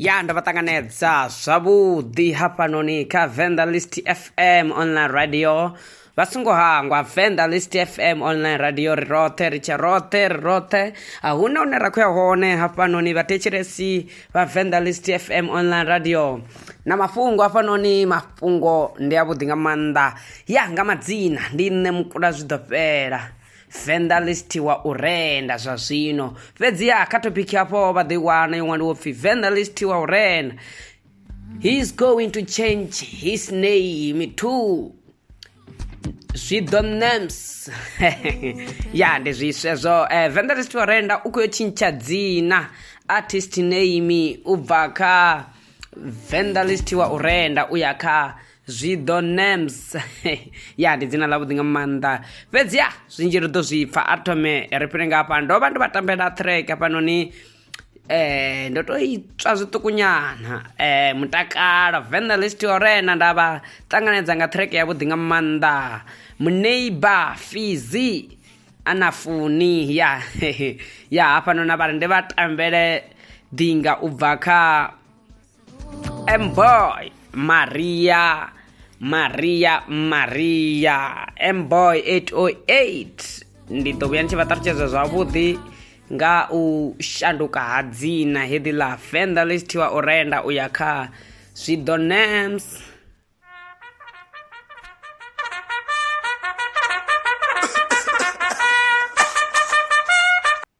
ya ndo vha ṱanganedza zwavhuḓi hafhanoni kha venda list fm online radio vha songo hangwa venda list fm online radio ri roṱhe ri tshe roṱhe ri roṱhe a hu na hune ra khou ya hone hafhanoni vhathetshelesi vha venda list fm online radio na mafhungo hafhanoni mafhungo ndi avhuḓi nga maanḓa ya nga madzina ndi nṋe mukula zwi ḓo fhela venḓa list wa u renda zwa zwino fhedziha kha topic hafho vha ḓo i wana yo ṅwaliwo pfhi venḓa list wa u renda he is going to change his name too zwi ḓo names ya ndi zwiswe zwo eh, venḓa list wa renda u khou yo tshintsha dzina artist name u bva kha venḓa list wa u renda u ya kha zwi ḓo nams ya ndi dzina ḽavhuḓi nga maanḓa fhedzi ya zwinzhi ri ḓo zwi pfa a thome ri fhire nga hafha ndo vha ndo vha tambela track hafhanoni eh ndo to itswa zwiṱukunyana eh mutakalo venna list orena nda vha ṱanganedza nga track ya vhuḓi nga maanḓa muneiba fizi ana funi ya ya hafhanoni a vha ri ndi vha tambele ḓinga u bva kha Mboy Maria Maria Maria Mboy 808 ndi ḓo vhuya ndi tshi vha ṱalutshedza zwavhuḓi nga u shanduka ha dzina heḓi ḽa fenda ḽi tshi thiwa u renda u ya kha zwiḓo nams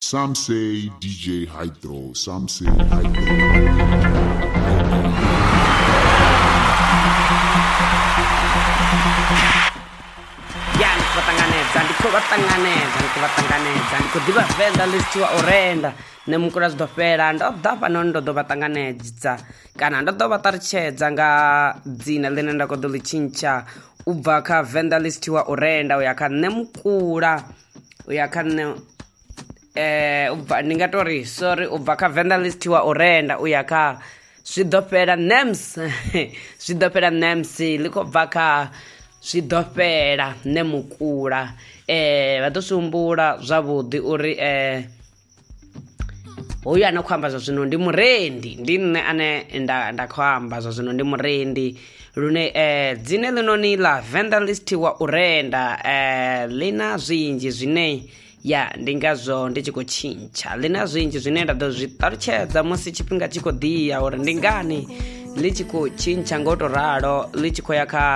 Some say DJ Hydro, some say ya ndi khou vha ṱanganedza ndi khou vha ṱanganedza ndi khou vha ṱanganedza ndi khou ḓivha venḓa ḽi sithiwa u renda nṋe mukula zwi ḓo fhela ndo ḓa fhanoni ndo ḓo vha ṱanganedza kana ndo ḓo vha ṱalutshedza nga dzina ḽine nda khou ḓo ḽi tshintsha u bva kha venḓa ḽi sithiwa u renda u ya kha nṋe mukula u ya kha nṋe eh ubva ndi nga tori sorry ubva kha vendor list wa u renda u ya kha zwi ḓo fhela nams zwi ḓo fhela nams ḽi khou bva kha zwi ḓo fhela nṋe mukula eh vha ḓo swi humbula zwavhuḓi uri eh hoyu ane khou amba zwa zwino ndi murendi ndi nṋe ane nda nda khou amba zwa zwino ndi murendi lune eh dzine ḽinoni ḽa venḓa listiwa u renda eh ḽi na zwinzhi zwine ya ndi ngazwo ndi tshi khou tshintsha ḽi na zwinzhi zwine nda ḓo zwi ṱalutshedza musi tshifhinga tshi khou ḓiya uri ndi ngani ḽi tshi khou tshintsha nga u tou ralo ḽi tshi khou ya kha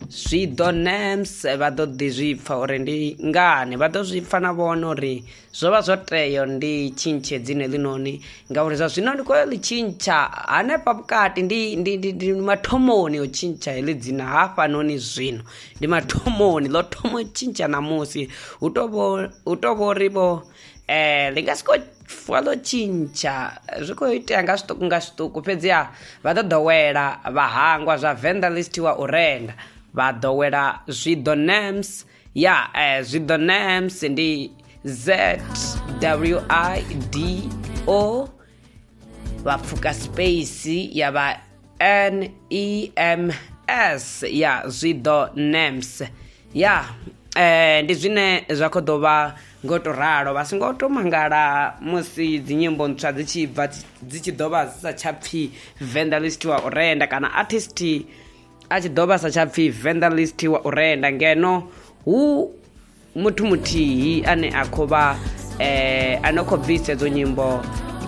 zwi ḓo nems vha ḓo ḓi zwi pfha uri ndi ngani vha ḓo zwi pfha na vhone uri zwo vha zwo teyo ndi tshintshe dzine ḽinoni ngauri zwa zwino ndi khou ḽi tshintsha hanefha vhukati ndi, ndi, ndi, ndi mathomoni o tshintsha heḽi dzina hafhanoni zwino ndi mathomoni ḽo thomo tshintsha ṋamusi hu tou vho ri vho eh ḽi nga si khou fuwa ḽo tshintsha zwi khou itea nga zwiṱuku nga zwiṱuku fhedziha vha ḓo ḓowela vha hangwa zwa venḓa ḽi si thiwa u renda vha ḓowela zwiḓo nams ya eh, zwi ḓo names ndi z w i d o vha pfuka space ya vha n e m s ya zwi ḓo names ya eh, ndi zwine zwa khou ḓo vha ngo to ralo vha songo to mangala musi dzinyimbo ntswa dzi tshi bva dzi tshi ḓo vha dzi sa tsha pfhi vendelist wa u renda kana artist a tshi ḓo vhasa tsha pfhi venderlist wa u renda ngeno hu muthu muthihi ane a khou vha eh, a no khou bvisa edzo nyimbo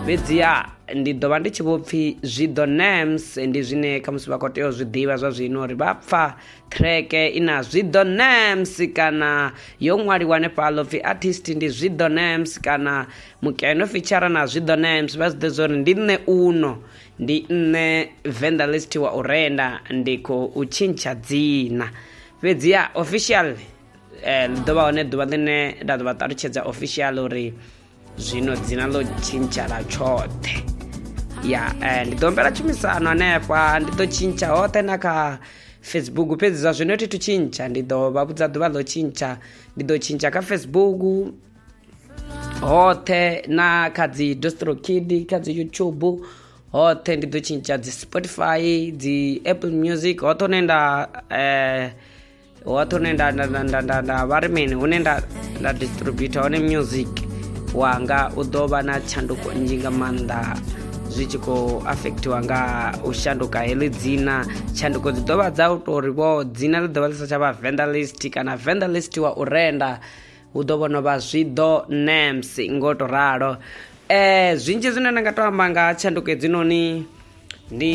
fhedziha ndi ḓo vha ndi tshi vho pfhi zwi ḓo nams ndi zwine khamusi vha khou tea u zwi ḓivha zwa zwino uri vha pfa treke i na zwi ḓo nams kana yo ṅwaliwa hanefhaḽo pfhi artist ndi zwi ḓo nams kana mukeno fitshara na zwi ḓo nams vha zwi ḓe zwa uri ndi nṋe uno ndi nṋe vendalist wa u renda ndi khou tshintsha dzina fhedzi ya official eh, ḽi ḓo vha hone ḓuvha ḽine nda ḓo vha ṱalutshedza official uri zwino dzina ḽo tshintsha ḽa tshoṱhe ya eh, ndi ḓo humbela tshumisano hanefha ndi ḓo tshintsha hoṱhe na kha facebook fhedzi zwa zwino thi thu tshintsha ndi ḓo vha vhudza ḓuvha ḽo tshintsha ndi ḓo tshintsha kha facebook hoṱhe na kha dzi dostrokid kha dzi youtube hoṱhe ndi ḓo tshintsha dzi spotify dzi apple music hoṱhe hune nda eh, hoṱhe hune nda nda vha ri mini hune nda nda distributa hone music wanga u ḓo vha na tshanduko nnzhi nga maanḓa zwi tshi khou affectiwa nga u shanduka heḽi dzina tshanduko dzi ḓo vha dza u tou ri vho dzina ḽi ḓo vha ḽi sa tsha vha venderlist kana venderlist wa u renda hu ḓo vhono vha zwiḓo nams ngo to ralo um zwinzhi zwine nda nga to amba nga tshanduko hedzinoni ndi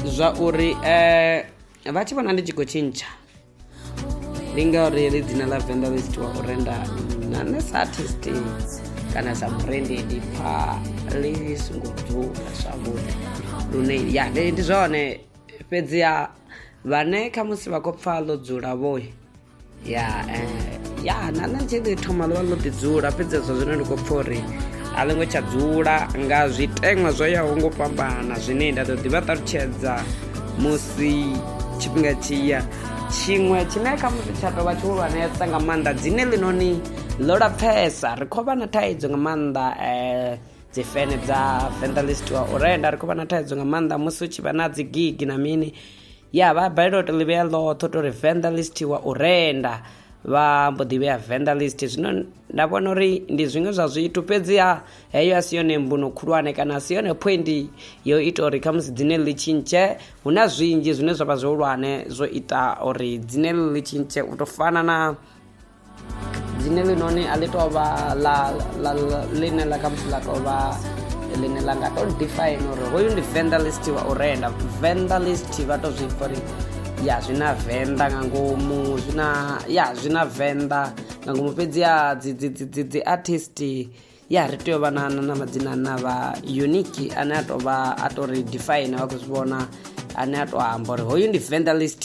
zwa uri um vha tshi vhona ndi tshi khou tshintsha ndi ngauri ri dzina ḽa venḓa ḽi tshitiwa u renda na nṋe sa artist kana sa murendi ndi pfa ḽi songo dzula zwavhuḓi lune ya ndi zwone fhedziha vhane khamusi vha khou pfa ḽo dzula vhoyi ya eh, ya na nṋe tshi ḓi thoma ḽo vha ḽo ḓi dzula fhedzi hezwo zwino ndi khou pfa uri a ḽi ngo tsha dzula nga zwiteṅwa zwo yaho ngo fhambana zwine nda ḓo ḓi vha ṱalutshedza musi tshifhinga tshi ya tshiṅwe tshine kha musi tsha tovha tshihulwanesa nga maanḓa dzine ḽinoni ḽo lapfesa ri khou vha na thaidzo nga maanḓa um dzi fene dza fendelist wa u renda ri khou vha na thaidzo nga maanḓa musi u tshi vha na dzi gigi na mini ya vha balelwa u to ḽi vhea ḽoṱhe to ri venḓa list wa u renda vha mbo ḓi vhea venḓa list zwino nda vhona uri ndi zwiṅwe zwa zwithu fhedziha heyo a si yone mbuno khulwane kana a si yone point yo ita uri khamusi dzine ḽi tshintshe hu na zwinzhi zwine zwa vha zwihulwane zwo ita uri dzine ḽi tshintshe u to fana na dzine ḽinoni a ḽi tou vha ḽa ḽine ḽa khamusi ḽa tou vha ḽine ḽa nga tou define uri hoyu ndi venḓa list wa u renda venḓa list vha tou zwi pfa uri ya zwi na venḓa nga ngomu zwi na ya zwi na venḓa nga ngomu fhedzi ya dzi dzi dzi dzi dzi artist ya ri tea u vha na na madzina na vha unique ane a tou vha a tou ri define vha khou zwi vhona ane a tou amba uri hoyu ndi venḓa list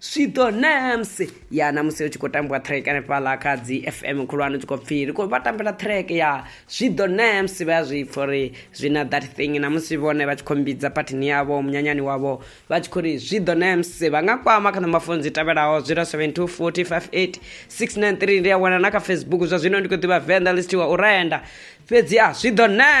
swiṱo nams ya na musi hu tshi khou tambiwa track hanefhaḽa kha dzi fm khulwane tshi khou pfhi ri khou vha tambela track ya swiḓo nams vha ya zwi pfa uri zwi na that thing na musi vhone vha tshi khou mbidza phathini yavho munyanyani wavho vha tshi khou ri swiḓo nams vha nga kwama kha ṋomafono dzi tevhelaho 072 458 693 ndi a wana na kha facebook zwa zwino ndi khou ḓivha venḓa listiwa u renda fhedzi a swiḓo nams